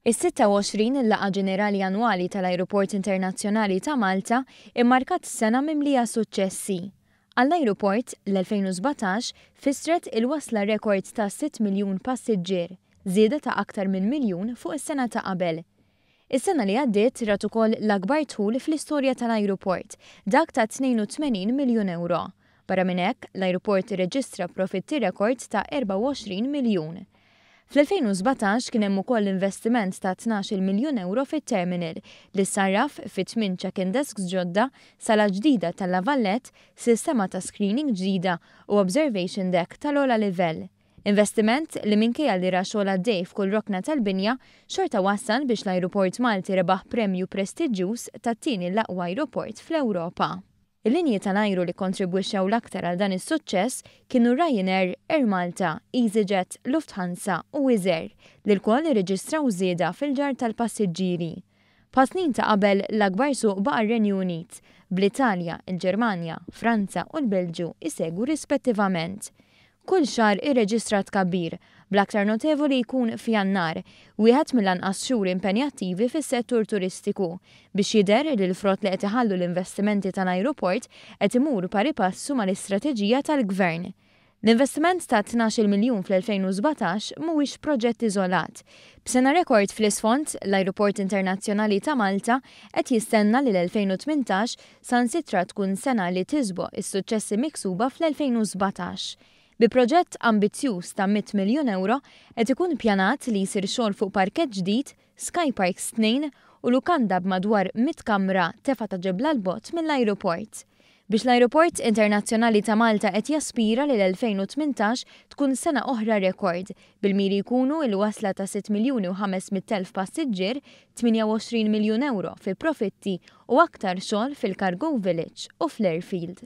Is-26 il-Laqgħa Ġenerali Annwali tal-Ajruport Internazzjonali ta' Malta immarkat sena mimlija suċċessi. Għall-ajruport, l-2017 fissret il-wasla rekord ta' 6 miljun passiġġier, żieda ta' aktar minn miljun fuq is-sena ta' qabel. Is-sena li għaddiet rat ukoll l-akbar dħul fl-istorja tal-ajruport, dak ta' 82 miljun ewro. Barra minn hekk, l-ajruport irreġistra profitti rekord ta' 24 miljun. Fl-2017 kien hemm ukoll investiment ta' tnax-il miljun ewro fit-terminal, li ssarraf fi tmien check-in desks ġodda, sala ġdida tal-La Vallette, sistema ta' screening ġdida u observation deck tal-ogħla livell. Investiment li minkejja li ra xogħol għaddej f'kull rokna tal-binja, xorta wassal biex l-ajruport Malti rebaħ premju prestiġġjuż tat-tieni l-aqwa ajruport fl-Ewropa. Il-linji tal-ajru li kkontribwixxew l-aktar għal dan is-suċċess kienu Ryanair, Air Malta, Easyjet, Lufthansa u Wizz Air, li lkoll irreġistraw żieda fil-ġarr tal-passiġġieri. Bħas-snin ta' qabel, l-akbar suq baqa' r-Renju Unit, bl-Italja, il-Ġermanja, Franza u l-Belġju jsegwu rispettivament. Kull xahar irreġistra tkabbir, bl-aktar notevoli jkun f'Jannar, wieħed mill-anqas xhur impenjattivi fis-settur turistiku, biex jidher li l-frott li qed iħallu l-investimenti tal-ajruport qed imur pari passu mal-istrateġija tal-Gvern. L-investiment ta' tnax-il miljun fl-2017 mhuwiex proġett iżolat. B'sena rekord fl-isfond, l-Ajruport Internazzjonali ta' Malta qed jistenna li l-2018 sansitra tkun sena li tiżboq is-suċċessi miksuba fl-2017. Bi proġett ambizzjuż ta' mitt miljun ewro qed ikun pjanat li jsir xogħol fuq parkett ġdid, Skyparks tnejn u lukanda b'madwar mitt kamra tefgħa ta' ġebla 'l bogħod mill-ajruport. Biex l-Ajruport Internazzjonali ta' Malta qed jaspira li l-2018 tkun sena oħra rekord, bil-miri jkunu il-wasla ta' sitt miljuni u ħames mitt elf passiġġier, 28 miljun ewro fi profitti u aktar xogħol fil-Cargo Village u fl-Airfield.